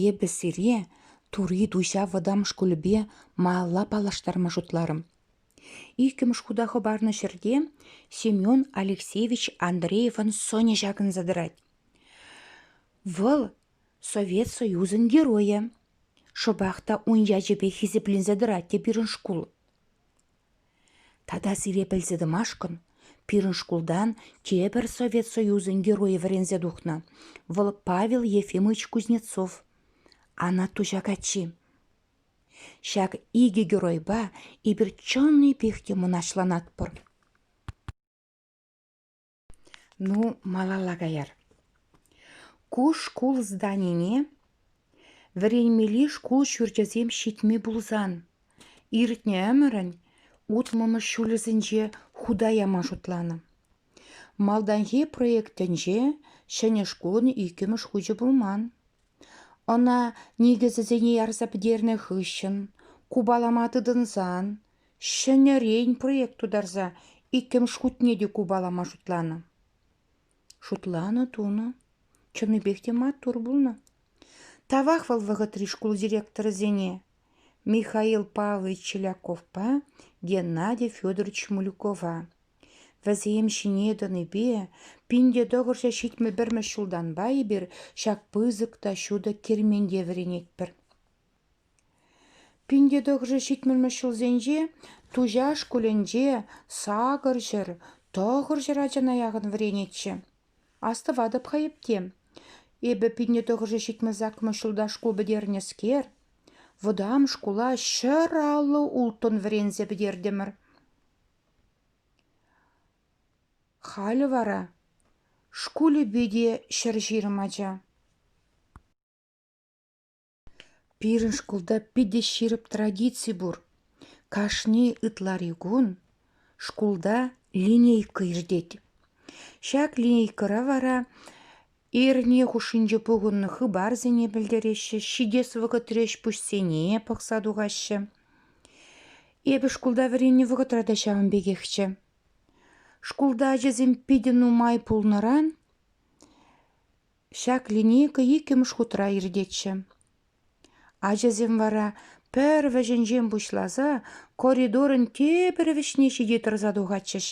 Эпӗ сире Тури Туҫа вӑтам шкулӗпе малалла паллаштарма шутларӑм. Иккӗмӗш хута хӑпарнӑ ҫӗрте Семен Алексеевич Андреевӑн сӑнӗ ҫакӑнса тӑрать. Вӑл Совет Союзӗн Геройӗ. Шӑпах та ун ячӗпе хисепленсе тӑрать те пирӗн шкул. Тата сире пӗлсе тӑмашкӑн пирӗн шкултан тепӗр Совет Союзӗн Геройӗ вӗренсе тухнӑ, вӑл Павел Ефимович Кузнецов, Анатуҫа каччи. Ҫак икӗ геройпа эпир чӑннипех те мӑнаҫланатпӑр. Ну, малалла каяр. Ку шкул зданине вӗренмелли шкул ҫурчӗсем ҫитми пулсан, иртнӗ ӗмӗрӗн утмӑлмӗш ҫулӗсенче хута яма шутланӑ. Малтанхи проектӗнче ҫӗнӗ шкулӑн иккӗмӗш хучӗ пулман. Ӑна никӗсӗсене ярса пӗтернӗ хыҫҫӑн, купалама тытӑнсан Ҫӗнӗрен проект тутарса иккӗмӗш хутне те купалама шутланӑ. Шутланӑ тунӑ. Чӑннипех те маттур пулнӑ. Тавах вӑл вӑхӑтри шкул директорӗсене Михаил Павлович Челяковпа Геннадий Федорович Мулюкова. Вӗсем ҫине тӑнипе пин те тӑкӑрҫӑ ҫитмӗ-пӗрмӗш ҫултанпа эпир ҫак пысӑк та ҫутӑ керменте вӗренетпӗр. Пин те тӑхӑршӗ ҫитмӗлмӗш ҫулсенче Туҫа шкулӗнче сакӑр ҫӗр, тӑхӑр ҫӗр ачана яхӑн вӗренетчӗ. Астӑватӑп-ха эпте. Эпӗ пин те тӑхӑршӗ ҫитмӗлс акмӑш ҫулта шкул пӗтернӗскер, вӑтам шкула ҫӗр аллӑ улттӑн вӗренсе пӗтертӗмӗр. Халӗ вара шкулӗпе те ҫӗр ҫирӗм ача. Пирӗн шкулта питӗ ҫирӗп традици пур. Кашни ытлари кун шкулта линейка иртет. Ҫак линейкӑра вара эрне хушшинче пухӑннӑ хыпарсене пӗлтереҫҫӗ, ҫитес вӑхӑтри ӗҫ-пуҫсене пӑхса тухаҫҫӗ. Эпӗ шкулта вӗреннӗ вӑхӑтра та ҫавӑн пекехчӗ. Шкулта ачасем питӗ нумай пулнӑран Ҫак линейка иккӗмӗш хутра иртетчӗ. Ачасем вара пӗр вӗҫӗнчен пуҫласа коридорӑн тепӗр вӗҫне ҫити тӑрса тухатчӗҫ.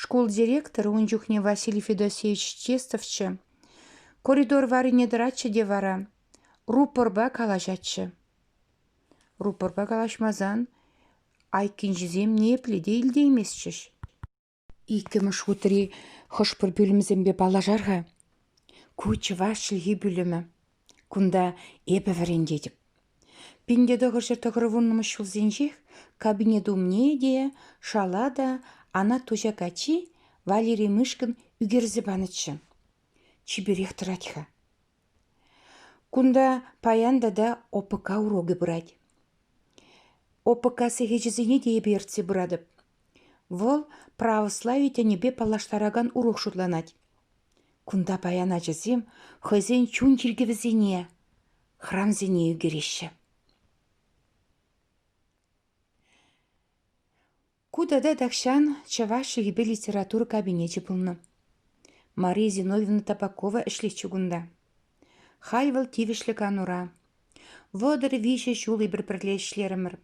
Шкул директорӗ ун чухне Василий Федосеевич Честовччӗ. Коридор варрине тӑратчӗ те вара рупорпа калаҫатчӗ. Рупорпа калаҫмасан айккинчисем ниепле те илтейместчӗҫ. Иккӗмӗш хутри хӑш-пӗр пӳлӗмсемпе паллашар-ха. Ку чӑваш чӗлхи пӳлӗмӗ. Кунта эпӗ вӗрентетӗп. Пин те тӑхӑрҫӗр тӑхӑрвуннӑмӗш ҫулсенчех кабинет умне те, шала та Анатуҫа каччи Валерий Мышкин ӳкерсе панӑччӗ. Чиперех тӑрать-ха. Кунта паян тата ОПК урокӗ пырать. ОПК сехечӗсене те эпӗ ертсе пыратӑп. Вӑл православи тӗнӗпе паллаштаракан урок шутланать. Кунта паян ачасем хӑйсен чун чиркӗвӗсене, храмсене ӳкереҫҫӗ. Ку тата тахҫан чӑваш чӗлхипе литература кабинечӗ пулнӑ. Мария Зиновьевна Табакова ӗҫлетчӗ кунта. Халь вӑл тивӗҫлӗ канура. Вӑтӑр виҫӗ ҫул эпир пӗрле ӗҫлерӗмӗр.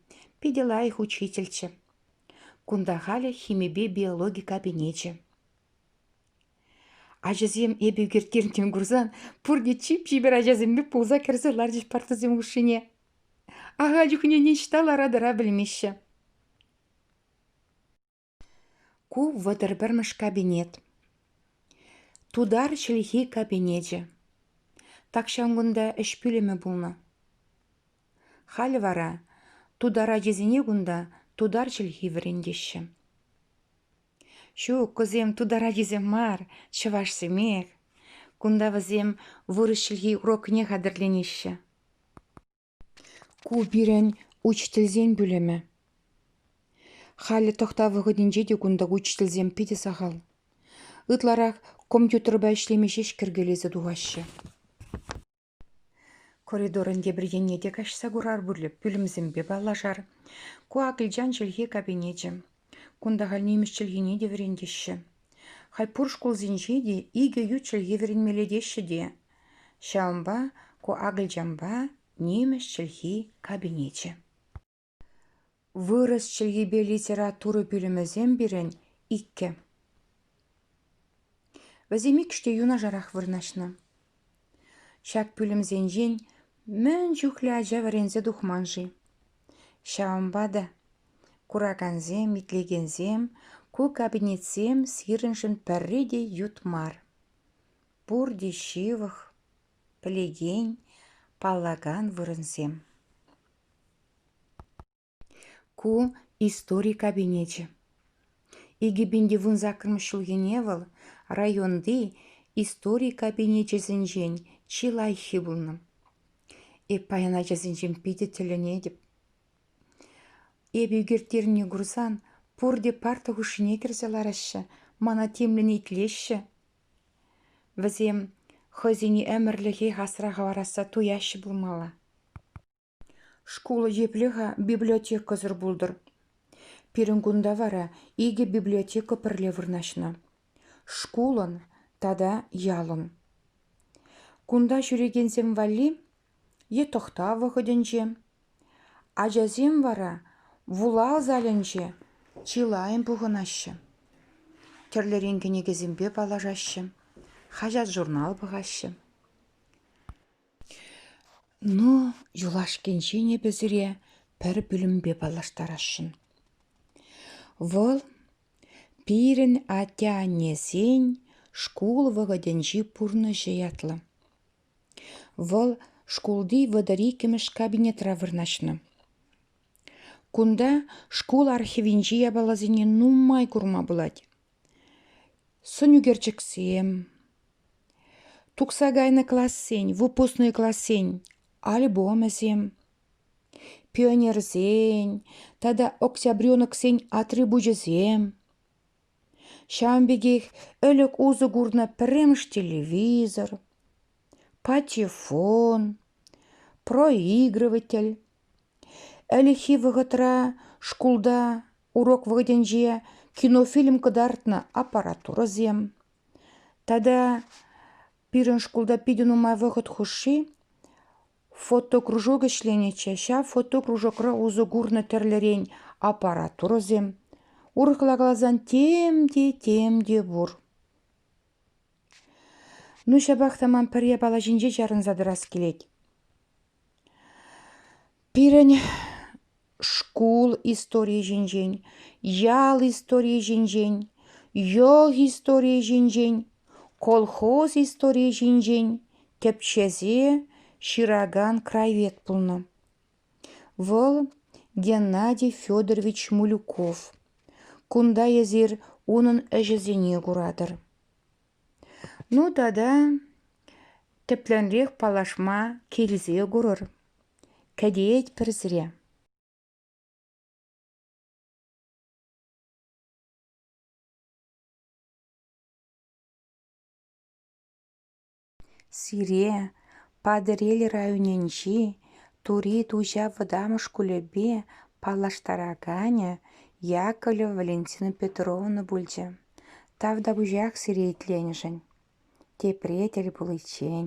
Питӗ лайӑх учительччӗ. Кунта халӗ химипе биологи кабинечӗ. Ачасем эпӗ ӳкерткерӗн тем курсан пурте чип-чипер ачасемпе пулса кӗрсе ларчӗҫ партӑсем хушшине. Аха чухне ниҫта лара-тӑра пӗлмеҫҫӗ. Ку вӑтӑр пӗрмӗш кабинет. Тутар чӗлхи кабинечӗ. Тахҫан кунта ӗҫ пӳлӗмӗ пулнӑ. Халӗ вара тутар ачисене кунта тутар чӗлхи вӗрентеҫҫӗ. Ҫук, кусем тутар ачисем мар, чӑвашсемех. Кунта вӗсем вырӑс чӗлхи урокне хатӗрленеҫҫӗ. Ку пирӗн учительсен пӳлӗмӗ. Халӗ тӑхтав вӑхӑтӗнче те кунта учительсем питӗ сахал. Ытларах компьютерпа ӗҫлеме ҫеҫ кӗркелесе тухаҫҫӗ. Коридорӑн тепӗр енне те каҫса курар пулӗ пӳлӗмсемпе паллашар. Ку акӑлчан чӗлхи кабинечӗ. Кунта халь нимӗҫ чӗлхине те вӗрентеҫҫӗ. Халь пур шкулсенче те икӗ ют чӗлхе вӗренмелле теҫҫӗ те. Ҫавӑнпа ку акӑлчанпа нимӗҫ чӗлхи кабинечӗ. Вырӑс чӗлхипе литература пӳлӗмӗсем пирӗн – иккӗ. Вӗсем иккӗш те юнашарах вырнаҫнӑ. Ҫак пӳлӗмсенчен мӗн чухлӗ ача вӗренсе тухман-ши? Ҫавӑнпа та куракансем, итлекенсем ку кабинетсем сирӗншӗн пӗрре те ют мар. Пурте ҫывӑх. пӗлекен, паллакан вырӑнсем. Ку истори кабинечӗ. Икӗ пин тевун саккӑрмӗш ҫулхине вӑл районти истори кабинечӗсенчен чи лайӑххи пулнӑ. Эп паян ачасенчен питӗ тӗлӗнетӗп. Эпӗ ӳкерттернине курсан пурте парта хушшине кӗрсе лараҫҫӗ, мана тимлӗн итлеҫҫӗ. Вӗсем хӑйсене ӗмӗрлӗхех асра хӑварасса туяҫҫӗ пулмалла. Шкул епле-ха библиотекӑсӑр пултӑр? Пирӗн кунта вара икӗ библиотека пӗрле вырнаҫнӑ – шкулӑн тата ялӑн. Кунта ҫӳрекенсем валли е тӑхтав вӑхӑтӗнче. Ачасем вара вулав залӗнче чылайӑн пухӑнаҫҫӗ. Тӗрлӗрен кӗнекесемпе паллашаҫҫӗ, хаҫат-журнал пӑхаҫҫӗ. Ну, юлашкинчен эпӗ сире пӗр пӳлӗмпе паллаштарасшӑн. Вӑл пирӗн атте-аннесен шкул вӑхӑтӗнчи пурнӑҫӗ ятлӑ. Вӑл шкулти вӑтӑр иккӗмӗш кабинетра вырнаҫнӑ. Кунта шкул архивӗнчи япаласене нумай курма пулать. Сӑн ӳкерчӗксем, тухса кайнӑ классен, выпускной классен альбомӗсем, пионерсен тата октябреноксен атрибучӗсем. Ҫавӑн пекех ӗлӗк усӑ курнӑ пӗрремӗш телевизор, патефон, проигрыватель. Ӗлӗкхи вӑхӑтра шкулта урок вӑхӑтӗнче кинофильм кӑтартнӑ аппаратурӑсем. Тата пирӗн шкулта питӗ нумай вӑхӑт хушши Фотокружок ӗҫленӗччӗ, ҫав фотокружокра усӑ курнӑ тӗрлӗрен аппаратурӑсем, урӑхла каласан, тем те тем те пур. Ну, ҫапах та ман пӗр япала ҫинче чарӑнса тӑрас килет. Пирӗн шкул историйӗ ҫинчен, ял историйӗ ҫинчен, йӑл историйӗ ҫинчен, колхоз историйӗ ҫинчен тӗпчесе ҫыракан краевед пулнӑ. Вӑл Геннадий Федорович Мулюков. Кунта эсир унӑн ӗҫӗсене куратӑр. Ну тата тӗплӗнрех паллашма килсе курӑр. Кӗтет пӗрсре. Сире Патӑрьел районӗнчи Тури Туҫа вӑтам шкулӗпе паллаштараканӗ Яковлева Валентина Петровна пулчӗ. Тав та пучах сире итленӗшӗн, тепре тӗл пуличчен.